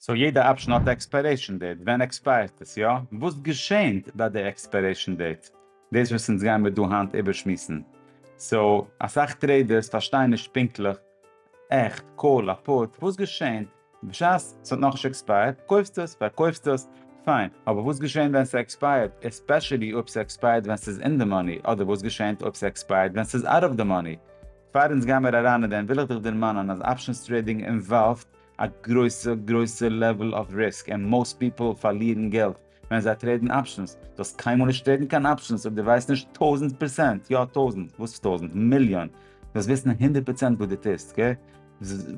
סאו יעדע אפשן האט א עקספיירעישן דעיט, ווען עקספייערט עס? יא? וואס געשענט ביי די עקספיירעישן דעיט? דאס וואס אונז גייען מיר דא היינט איבערשמועסן. סאו אסאך טרעידערס פארשטייען נישט פונקטליך, עכפ קאל א פוט, וואס געשענט בשעת ס'האט נאכנישט עקספייערט? קויפסט עס? פארקויפסט עס? פיין. אבער וואס געשענט ווען ס'עקספייערט? עספעשעלי אויב ס'עקספייערט ווען ס'איז אין די מאני, אדער וואס געשענט אויב ס'עקספייערט ווען ס'איז אוט אוו די מאני? פאר אונז גיימיר אריין אין דעם וויל איך דיך דערמאנען אז אפשנס טרעידינג אינוואלווד א גרויסע גרויסע לעוועל אוו ריסק און מאוסט פיפעל פארלירן געלט ווען זיי טרעידן אפשענס, דו האסט קיינמאל נישט טרעידן קיין אפשענס אויב דו ווייסט נישט טויזענט פערסענט, יא טויזענט, וואס טויזענט? מיליאן, דו זאלסט וויסן הונדערט פראצענט וואס דו טוסט, אקעי?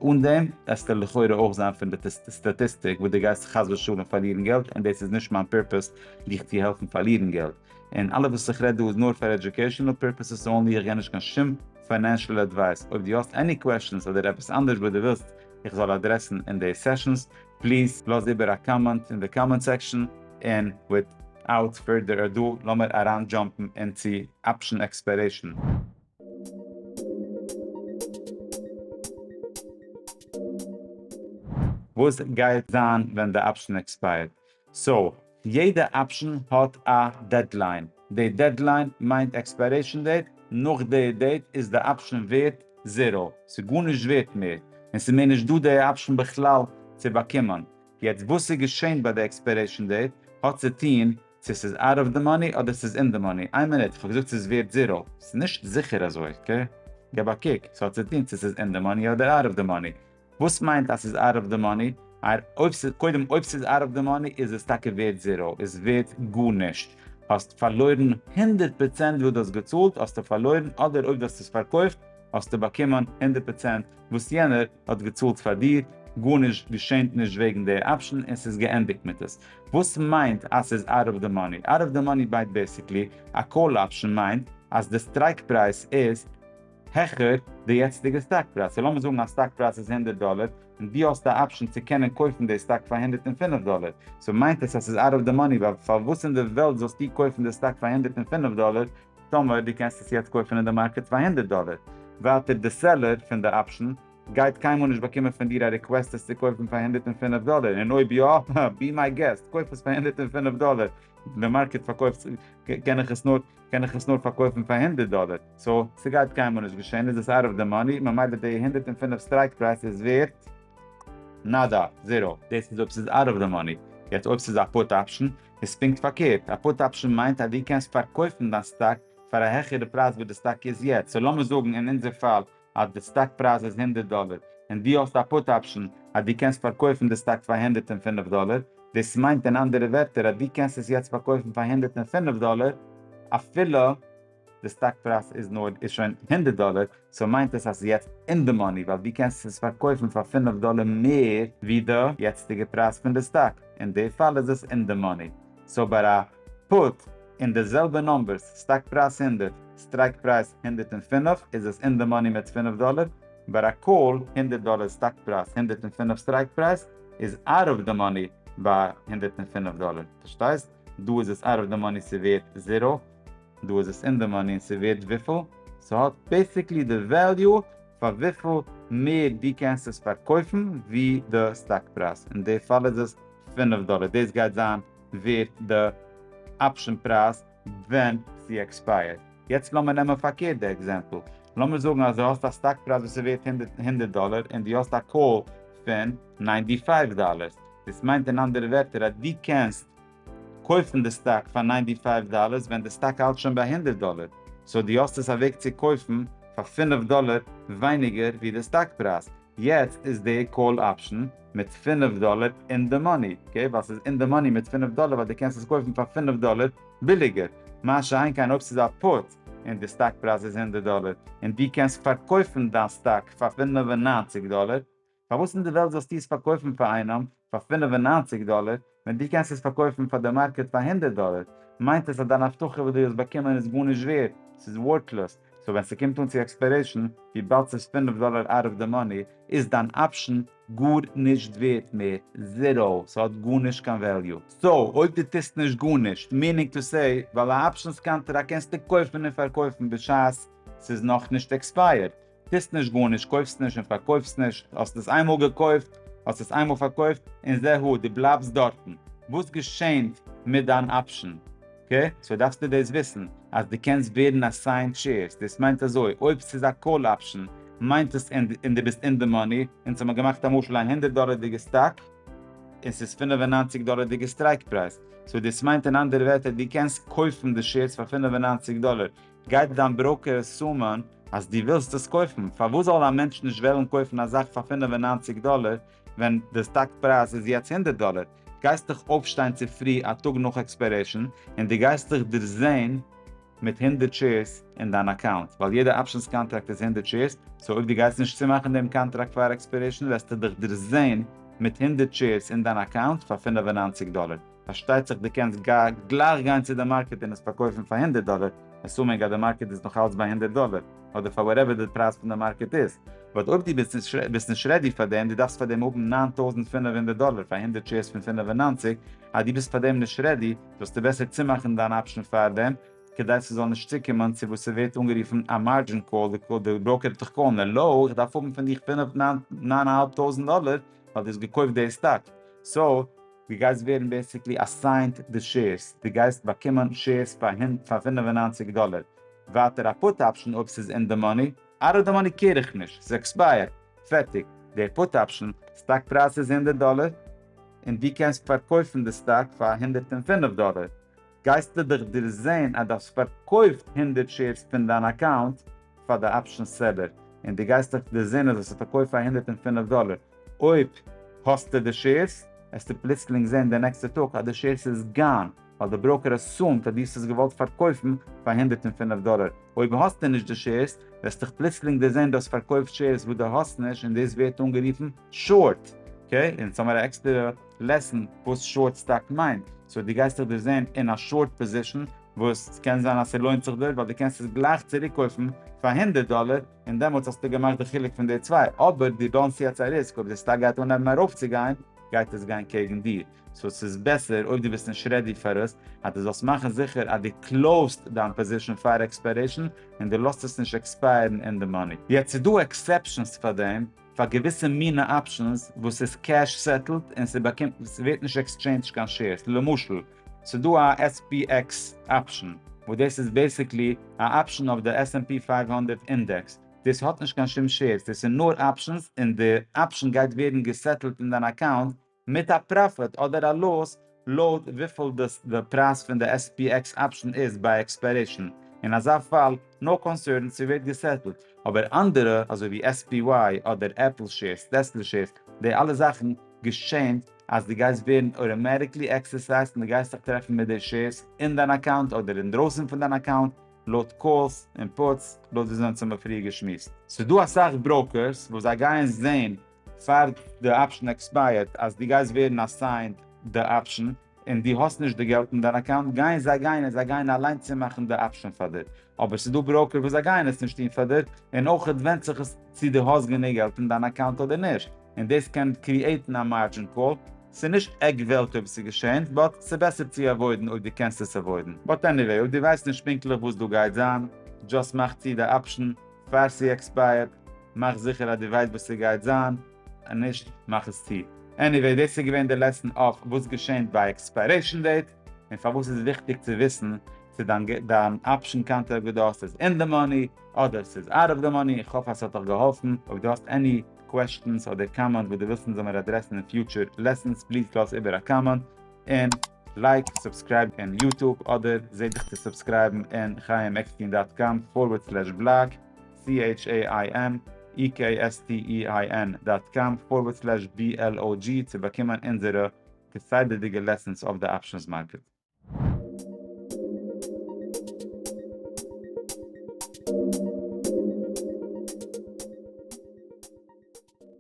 אן דעם וועסטו לכאורה אויך זיין פון די סטאטיסטיק וואס דו גייסט חס ושלום פארלירן געלט און דאס איז נישט מיין פערפעס דיך צו העלפן פארלירן געלט און אלעס וואס איך רעד דא איז נאר פאר עדיוקעישענעל פערפעסעס אנלי איך גיי נישט קיין שום פיינענשעל עדווייס, אויב דו האסט עני קוועשאנס אדער עפעס אנדערש וואס דו ווילסט איך זאל אדרעסן אין די סעשאנס, פליז לאז איבער א קאמענט אין די קאמענט סעקשאן, און וויטאוט פורדער אדו לאמיר אריין דזשאמפן אין צו אפשן עקספיירעישאן. וואס גייט זיין ווען די אפשן עקספייערט? סאו, יעדע אפשן האט א דעדליין. די דעדליין מיינט עקספיירעישן דעיט, נאך די דעיט איז די אפשן ווערט זיראו, ס'איז גארנישט ווערט מער, און ס'איז מער נישט דא די אפשן בכלל צו באקומען. יעצט וואס איז געשען ביי די עקספיירעישן דעיט האט צו טוהן צו ס'איז אוט אוו די מאני אדער ס'איז אין די מאני. איין מינוט, כ'האב געזאגט ס'איז ווערט זיראו, ס'איז נישט זיכער אזוי, אקעי? געב א קוק, ס'האט צו טוהן צו ס'איז אין די מאני אדער אוט אוו די מאני. וואס מיינט אז ס'איז אוט אוו די מאני? קודם אויב ס'איז אוט אוו די מאני איז עס טאקע ווערט זיראו, איז ווערט גארנישט, האסט פארלוירן הונדערט פראצענט וואס דו האסט געצאלט האסטו פארלוירן אדער אויב דו האסט עס פארקויפט האסטו באקומען הונדערט פראצענט וואס יענער האט געצאלט פאר דיר, גארנישט געשענט נישט וועגן דער אפשן און ס'איז געענדיגט מיט עס. וואס מיינט אז ס'איז אוט אוו די מאני? אוט אוו די מאני בייט בעסיקלי א קאל אפשן מיינט אז די סטרייקפרייז איז. העכער די יעצטיגע סטאק פרייז. סאו לאמיר זאגן אז סטאק פרייז איז הונדערט דאלער, און דו האסט א אפשען צו קענען קויפן די סטאק פאר הונדערט און פינף דאלער, סאו מיינט עס אז ס'איז אוט אוו די מאני, ווייל פארוואס אין די וועלט זאלסטו קויפן די סטאק פאר הונדערט און פינף דאלער, טאמער דו קענסט עס יעצט קויפן אין די מארקעט פאר הונדערט דאלער? ווייטער די סעלער פון די אפשען גייט קיינמאל נישט באקומען פון דיר א ריקוועסט עס צו קויפן פאר הונדערט און פינף דאלער, און אויב יא, בי מיי געסט, קויף עס פאר הונדערט און פינף דאלער, די מארקעט פארקויפט, קען איך עס נאר. קען איך עס נאר פארקויפן פאר הונדערט דאלער, סא ס'גייט קיינמאל נישט געשען, איז עס אוט אוו די מאני, ממילא די הונדערט און פֿינף סטרייק פרייז איז ווערט נאדא, זירא. דאס איז אויב ס'איז אוט אוו די מאני, יעצט אויב ס'איז א פוט אפשן, איז פונקט פארקערט, א פוט אפשן מיינט אז דו קענסט פארקויפן דיין סטאק פאר א העכערע פרייז וואס די סטאק איז יעצט, סא לאמיר זאגן אין אונזער פאל אז די סטאק פרייז איז הונדערט דאלער און דו האסט א פוט אפשען אז דו קענסט פארקויפן די סטאק פאר הונדערט און פֿינף דאלער, דאס מיינט אין אנדערע ווערטער אז דו קענסט עס יעצט פארקויפן פאר הונדערט און פֿינף דאלער אפילו די סטאק פרייז איז נאר איז שוין הונדערט דאלער, סאו מיינט עס אז ס'איז יעצט אין די מאני ווייל דו קענסט עס פארקויפן פאר פֿינף דאלער מער ווי די יעצטיגע פרייז פון די סטאק, אין די פאל איז עס אין די מאני, סאו ביי א. פוט אין די זעלבע נומבערס, סטאק פרייז הונדערט, סטרייק פרייז הונדערט און פֿינף, איז עס אין די מאני מיט פֿינף דאלער, ביי א קאל הונדערט דאלער סטאק פרייז הונדערט און פֿינף סטרייק פרייז איז אוט אוו די מאני ביי הונדערט און פֿינף דאלער, פארשטייסט? דא איז עס אוט אוו די מאני ס'ווערט זיראו, דא איז עס אין די מאני און ס'ווערט וויפיל? ס'האט בעסיקלי די וועליו פאר וויפיל מער דו קענסט עס פארקויפן ווי די סטאק פרייז, אין די פאל איז עס פֿינף דאלער, דאס גייט זיין ווערט די אפשען פרייז ווען ס'עקספייערט. יעצט לאמיר נעמען פארקערט די עקזעמפל. לאמיר זאגן אז דו האסט א סטאק פרייז וואס איז ווערט הונדערט דאלער און דו האסט א קאל פון ניינטי פייוו דאלער. דאס מיינט אין אנדערע ווערטער אז דו קענסט קויפן די סטאק פאר ניינטי פייוו דאלער ווען די סטאק האלט שוין ביי הונדערט דאלער. סאו דו האסט עס א וועג צו קויפן פאר פֿינף דאלער ווייניגער ווי די סטאק פרייז. יעצט איז די קאל אפשן מיט פֿינף דאלער אין די מאני, אקעי ווייל ס'איז אין די מאני מיט פֿינף דאלער ווייל די קענסט עס קויפן פאר פֿינף דאלער ביליגער, מה שאין כן אויב ס'איז א פוט און די סטאק פרייז איז הונדערט דאלער און די קענסט פארקויפן דיין סטאק פאר פֿינף און נײַנציק דאלער, פארוואס אין די וועלט זאלסטו עס פארקויפן פאר איינעם פאר פֿינף און נײַנציק דאלער, ווען דו קענסט עס פארקויפן פאר די מארקעט פאר הונדערט דאלער, מיינט עס אז דיין הבטחה וואס דו האסט באקומען איז גארנישט ווערד, ס'איז ווארטלאז, סאו ווען ס'קומט אן צו עקספיירעישן, וויבאלד ס'איז פֿינף דאלער אוט אוו די מאני, איז דיין אפשן גארנישט ווערד מער, זיראו, ס'האט גארנישט קיין וועליו. סאו אויב דו טוסט נישט גארנישט, מינינג טו סעי, ווייל א אפשענס קאנטראקט קענסטו קויפן און פארקויפן בשעת ס'איז נאכנישט עקספייערט, טוסט נישט גארנישט, קויפסט נישט און פארקויפסט נישט, האסט עס איינמאל געקויפט, האסט עס איינמאל פארקויפט, און זה הוא, דו בלייבסט דארטן. וואס געשענט מיט דיין אפשן? קע, סאו דארפסטו דאס וויסן, אז דו קענסט ווערן אסיינד שעירס, דאס מיינט אזוי, אויב ס'איז א קאל אפשן, מיינט עס ענד און דו ביסט אין די מאני, אונז האמיר געמאכט א משל א הונדערט דאלערדיגע סטאק, און ס'איז פֿינף און נײַנציק דאלערדיגע סטרייק פרייז, סאו דאס מיינט אין אנדערע ווערטער, דו קענסט קויפן די שעירס פאר פֿינף און נײַנציק דאלער, גייט דיין בראוקער עסומען אז דו ווילסט עס קויפן, פארוואס זאל א מענטש נישט וועלן קויפן א זאך פאר פֿינף און נײַנציק דאלער ווען די סטאק פרייז איז יעצט הונדערט דאלער? גייסט דיך אויפשטיין צופרי א טאג נאך עקספיירעישן און דו גייסט דיך דערזעהן מיט הונדערט שעירס אין דיין אקאונט, ווייל יעדע אפשענס קאנטראקט איז הונדערט שעירס, סאו אויב דו גייסט נישט צומאכן דעם קאנטראקט פאר עקספיירעישן וועסטו דיך דערזעהן מיט הונדערט שעירס אין דיין אקאונט פאר פֿינף און נײַנציק דאלער. פארשטייט זיך דו קענסט גלייך גיין צו די מארקעט און עס פארקויפן פאר הונדערט דאלער, עסומינג אז די מארקעט איז נאך אלץ ביי הונדערט דאלער, אדער פאר וואטעווער די פרייז פון די מארקעט איז, באט אויב דו ביסט נישט רעדי פאר דעם, דו דארפסט פאר דעם האבן נײַן טויזנט פֿינף הונדערט דאלער פאר הונדערט שעירס פון פֿינף און נײַנציק, אז דו ביסט פאר דעם נישט רעדי, זאלסטו בעסער צומאכן דיין אפשן פאר דעם, כדי ס'זאל נישט צוקומען צו וואס ס'ווערט אנגערופן א מארדזשין קאל, די בראוקער האט דיך קאלן, העלא, איך דארף האבן פון דיך פֿינף, נײַן, נײַן אהאלב טויזנט דאלער, ווייל דו האסט געקויפט די סטאק, סאו, דו גייסט ווערן בעסיקלי אסיינט די שעירס, דו גייסט באקומען שעירס פאר פֿינף און נײַנציק דאלער, ווייטער א פוט אפשן אויב ס'איז אין די מאני, אאוט אוו די מאני קעיר איך נישט, ס'איז עקספייערט, פערטיג, די פוט אפשן סטאק פרייז איז הונדערט דאלער, און דו קענסט פארקויפן די סטאק פאר הונדערט און פֿינף דאלער, גייסטו דאך דערזעהן אז דאס פארקויפט הונדערט שעירס פין דיין אקאונט פאר די אפשען סעלער, און דו גייסט דאך דערזעהן אז עס איז פארקויפט פאר הונדערט און פֿינף דאלער, אויב האסטו די שעירס, העסטו פלוצלינג זעהן די נעקסטע טאג אז די שעירס איז גאן, ווייל די בראוקער עסומד אז דו האסט עס געוואלט פארקויפן פאר הונדערט און פֿינף דאלער, אויב האסטו נישט די שעירס, וועסטוך פלוצלינג דערזעהן דו האסט פארקויפט שעירס וואס דו האסט נישט, און דאס ווערט אנגערופן שארט, אקעי, און יעצט האמיר א עקסטערע. לעסן וואס שארט סטאק מיינט, סאו דו גייסט זיך דערזען אין א שארט פאזישן וואס סקען זיין אז סלוינט זיך דיר ווייל דו קענסט עס גלייך צוריקקויפן פאר הונדערט דאלער און דעמאלטס האסטו געמאכט די חילוק פון די צוויי אבער דו דאונסט יעצט א ריסק אויב די סטאק גייט אנהייבן ארויפצוגיין גייט עס גיין קעגן דיר סאו סאיז בעסער אויב דו ביסט נישט רעדי פאר עס אז דו זאלסט מאכן זיכער אז דו קלאוזט דיין פאזישן פאר עקספיירעישן און דו לאזט עס נישט עקספייערן אין די מאני. יעצט סדא עקסעפשענס פאר דעם. פאר געוויסע מינע אפשענס וואס איז קעש סעטלד און ס'באקומט ס'ווערט נישט עקסטשעינדזשט קיין שעירס למשל ס'דא א SPX אפשען וואס דאס איז בעסיקלי א אפשען אויף די SNP פֿינף הונדערט אינדעקס דאס האט נישט קיין שום שעירס דאס איז נאר אפשענס און די אפשען גייט ווערן געסעטלד אין דיין אקאונט מיט א פראפיט אדער א לאס לויט וויפיל די פרייז פון די SPX אפשן איז ביי עקספיירעישן, אין אזא פאל נאו קאנסערן צו ווערט געסעטלט, אבער אנדערע אזוי ווי SPY אדער עפל שעירס, טעסלע שעירס, די אלע זאכן געשענט אז די גייסט ווערן אוטאמעטיקלי עקסערסייזט און די גייסט זיך טרעפן מיט די שעירס אין דיין אקאונט אדער אינדרויסן פון דיין אקאונט לויט קאלס און פוטס לויט וויאזוי אונז האמער פריער געשמועסט. ס'דא אסאך בראוקערס וואס זיי גייען זעהן פאר די אפשן עקספייערט אז דו גייסט ווערן אסיינד די אפשן און דו האסט נישט די געלט אין דיין אקאונט גייען זיי גיין און זיי גייען אליין צומאכן די אפשן פאר דיר אבער ס'איז דא בראוקער וואס זיי גייען עס נישט טון פאר דיר און אויך ווענדט זיך עס צו דו האסט גענוג געלט אין דיין אקאונט אדער נישט און דאס קען קריעטן א מארדזשין קאל. ס'איז נישט עק וועלט אויב ס'איז געשען באט ס'איז בעסער צו עוואוידן אויב דו קענסט עס עוואוידן באט עניוועי אויב דו ווייסט נישט פונקטליך וואס דא גייט זיין דזשאסט מאך צו די אפשן פאר ס'עקספייערט מאך זיכער אז דו ווייסט וואס ס'גייט זיין, און נישט מאך עס צו. עניוועי דאס איז געווען די לעסן אויף וואס געשענט ביי עקספיירעישן דעיט, און פארוואס איז וויכטיג צו וויסן צו דיין אפשן קאנטע אגעדאסט איז אין די מאני אדער ס'איז אוט אוו די מאני, איך האף אז ס'האט דיך געהאלפן, אויב דו האסט עני קוועשטענס אדער קאמענט וואס דו ווילסט אונז זאל מיר אדרעסן אין פיוטשער לעסענס פליז לאז איבער א קאמענט, און. לייק, סובסקרייב אין יוטוב אדער זע דיך צו סובסקרייבן אין חיים עקסטין דאט קאם פארווערד סלעש בלאג, CHAIMEKSTEIN דאט קאם פארווערד סלעש BLOG צו באקומען אונזערע כסדר'דיגע לעסענס אויף די אפשענס מארקעט.